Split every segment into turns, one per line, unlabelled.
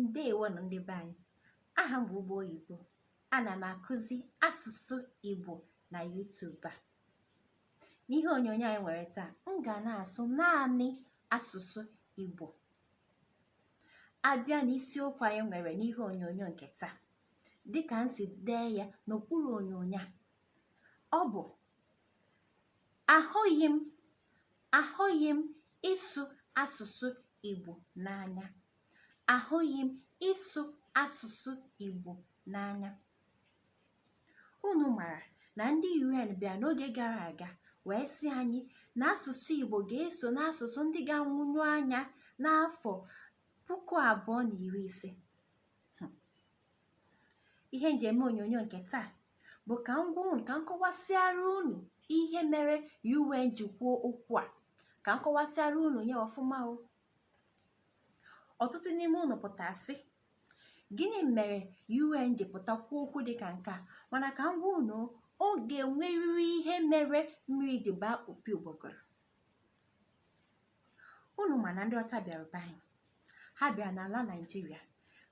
ndeewo nụ ndị be anyị aha m bụ ugbo oyibo ana m akụzi asụsụ igbo na YouTube a n'ihe onyonyo anyị nwere taa m ga na-asụ naanị asụsụ igbo a bịa n'isiokwu anyị nwere n'ihe onyonyo nke taa dịka m si dee ya n'okpuru onyonyo a ọ bụ ahụghị m ahụghị m ịsụ asụsụ Igbo n'anya ahụghị m ịsụ asụsụ Igbo n'anya unu mara na ndị UN bịa n'oge gara aga wee sị anyị na asụsụ Igbo ga-eso n'asụsụ ndị ga-anwụnyụ anya n'afọ puku abụọ na iri ise ihe m ji eme onyonyo nke taa bụ ka m gwa unu ka m kọwasịara unu ihe mere UN ji kwuo okwu a ka m kọwasịara unu ya ọfụma o ọtụtụ n'ime unu pụta sị gịnị mere UN ji pụta kwuo okwu dị ka nke a mana ka m gwa unu ọ ga-enwerịrị ihe mere mmiri ji baa opi ụgbọgọrọ unu ma na ndị ọcha bịara be anyị ha bịara n'ala naịjirịa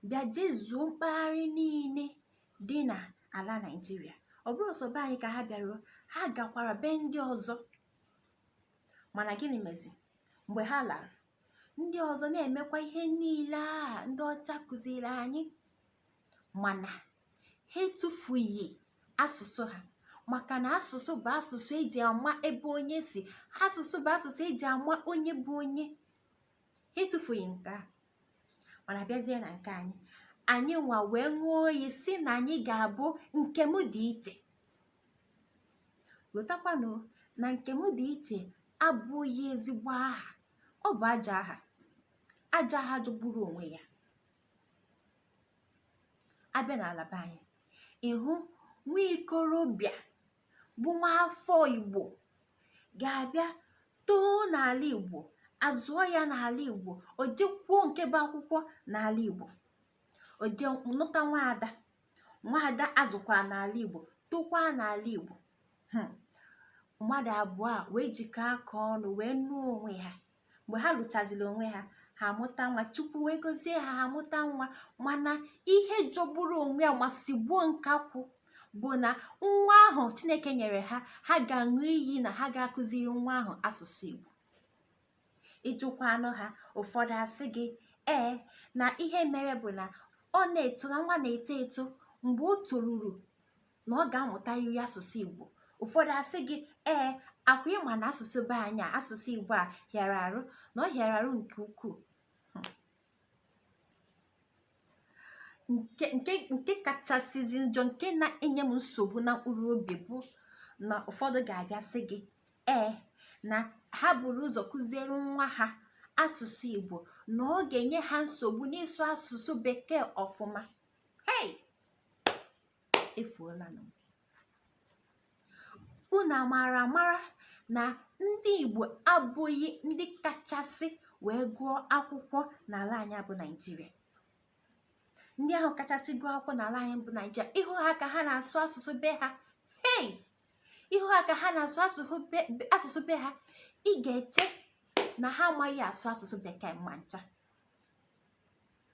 bịa jezuo mpaghara niile dị na ala naịjirịa ọ bụrọ sọ be anyị ka ha bịaruo ha gakwara be ndị ọzọ mana gịnị mezi mgbe ha lara ndị ọzọ na-emekwa ihe niile a ndị ọcha kụziri anyị mana ha etufughị asụsụ ha maka na asụsụ bụ asụsụ eji ama ebe onye si asụsụ bụ asụsụ eji ama onye bụ onye ha etufughị nke a mana bịazie na nke anyị anyị nwa wee ṅụọ iyi sị na anyị ga-abụ nke m dị iche lotakwanụ na nke m dị iche abụghị ezigbo aha ọ bụ ajọ aha ajọ aha jọgburu onwe ya a bịa n'ala be anyị ị hụ nwa ikorobịa bụ nwa afọ igbo ga-abịa too n'ala igbo a zụọ ya n'ala igbo o jekwuo nke bụ akwụkwọ n'ala igbo o je nụta nwaada nwaada azụkwa n'ala igbo tokwa n'ala igbo hmm. mmadụ abụọ a wee jikọọ aka ọnụ wee nụọ onwe ha mgbe ha lụchaziri onwe ha ha amụta nwa chukwu wee gozie ha ha amụta nwa mana ihe jọgburu onwe ya ma sigbuo nkakwụ bụ na nwa ahụ chineke nyere ha ha ga-aṅụ iyi na ha ga-akụziri nwa ahụ asụsụ igbo ị jụkwanụ ha ụfọdụ asị gị ee na ihe mere bụ na ọ na-eto na nwa na-eto eto mgbe o toruru na ọ ga-amụtarịrị asụsụ igbo ụfọdụ asị gị ee akwa ịma na asụsụ be anyị asụsụ igbo a hịara arụ na ọ hịara arụ nke ukwuu nke kachasịzi njọ nke na-enye m nsogbu na mkpụrụ obi bụ na ụfọdụ ga-abịa sị gị ee na ha buru ụzọ kụziere nwa ha asụsụ igbo na ọ ga-enye ha nsogbu n'ịsụ asụsụ bekee ọfụma hey efuolanụ unu amara amara na ndị igbo abụghị ndị kachasị wee gụọ akwụkwọ n'ala anyị bụ naijiria ndị ahụ kachasị gụọ akwụkwọ n'ala anyị bụ naijiria ịhụ ha ka ha na-asụ asụsụ be ha hei ịhụ ha ka ha na-asụ asụsụ be ha ị ga-eche na ha amaghị asụ asụsụ bekee ma ncha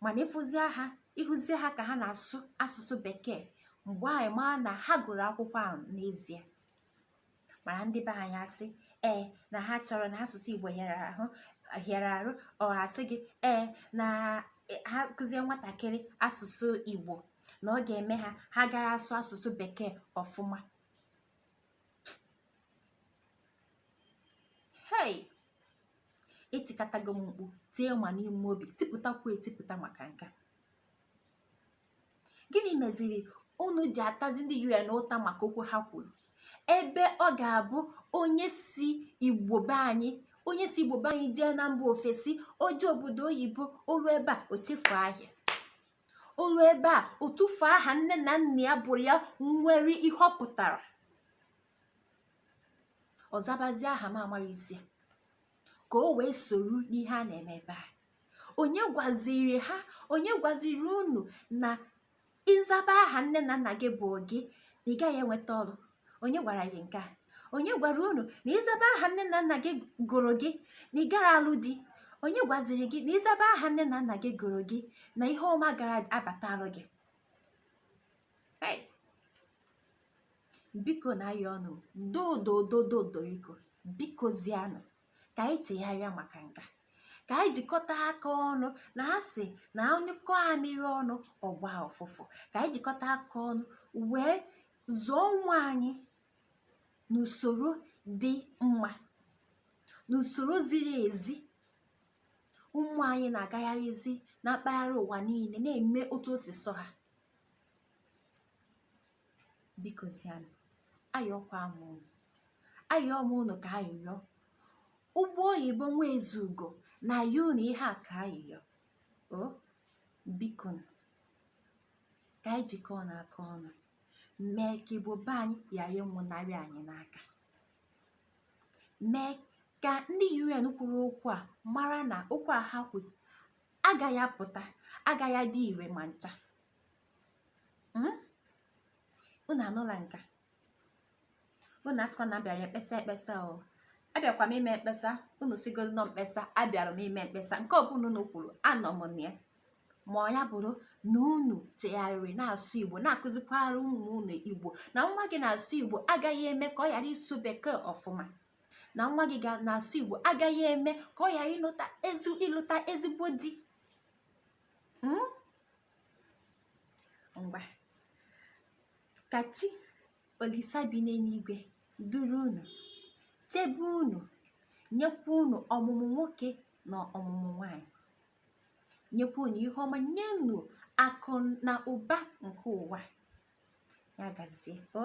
mana ịfụzie ha ịhụzie ha ka ha na-asụ asụsụ bekee mgbe ahụ ị maa na ha gụrụ akwụkwọ ahụ n'ezie mana ndị be anyị asị ee na ha chọrọ na asụsụ igbo hịara arụ ọ asị gị ee na ha kụzie nwatakịrị asụsụ igbo na ọ ga-eme ha ha gara asụ asụsụ bekee ọfụma hei etikatago m mkpu tie ma n'ime obi tipụtakwu etipụta maka nke gịnị meziri unu ji atazi ndị un ụta maka okwu ha kwuru ebe ọ ga-abụ onye si igbo be anyị onye si igbo be anyị jee na mba ofesi o je obodo oyibo o lu ebe a o chefu aha ya o lu ebe a o tufu aha nne na nna ya gụrụ ya nwere ihe ọ pụtara ọ zabazi aha m amara isi ka o wee soro n'ihe a na-eme ebe a onye gwaziri ha onye gwaziri unu na ịzaba aha nne na nna gị gụrụ gị ị gaghị enweta ọrụ onye gwara gị nke a onye gwara unu na ịzaba aha nne na nna gị gụrụ gị na ị gara alụ di onye gwaziri gị na ịzaba aha nne na nna gị gụrụ gị na ihe ọma gara abatalụ gị biko na-ayọ unu dododododo biko biko zianụ ka anyị chegharịa maka nka ka anyị jikọta aka ọnụ na a sị na a nyụkọ amịrị ọnụ ọ gba ụfụfụ ka anyị jikọta aka ọnụ wee zụọ ụmụ anyị n'usoro dị mma n'usoro ziri ezi ụmụ anyị na-agagharịzi na mpaghara ụwa niile na-eme otu o si sọ ha biko zianụ ayọkwa m unu ayọọ m unu ka ayịyọ ụgbọ oyibo nwa ezeugo na-ayọ unu ihe a ka ayịyọ o biko ka anyị jikọọ na aka ọnụ mee ka igbo be anyị ghara ịnwụnarị anyị n'aka mee ka ndị un kwuru okwu a mara na okwu a ha kwuru agaghị apụta agaghị adị ire ma ncha hmm? unu anụla nka unu asịkwa na abịara ekpesa ekpesa o abịakwa m ime mkpesa unu sịgodu na ọ mkpesa abịara m ime mkpesa nke ọbụla unu kwuru anọ m na ya ma ya bụrụ na unu chegharịrị na-asụ igbo na-akụzikwara ụmụ unu igbo na nwa gị na-asụ igbo agaghị eme ka ọ ghara ịsụ bekee ọfụma na nwa gị na-asụ igbo agaghị eme ka ọ ghara ịlụta ezigbo di hmm? ngwa ka chi olisa bi n'eluigwe duru unu chebe unu nyekwa unu ọmụmụ nwoke na ọmụmụ nwanyị nyekwa unu ihe ọma nye unu akụ na ụba nke ụwa ya gazie o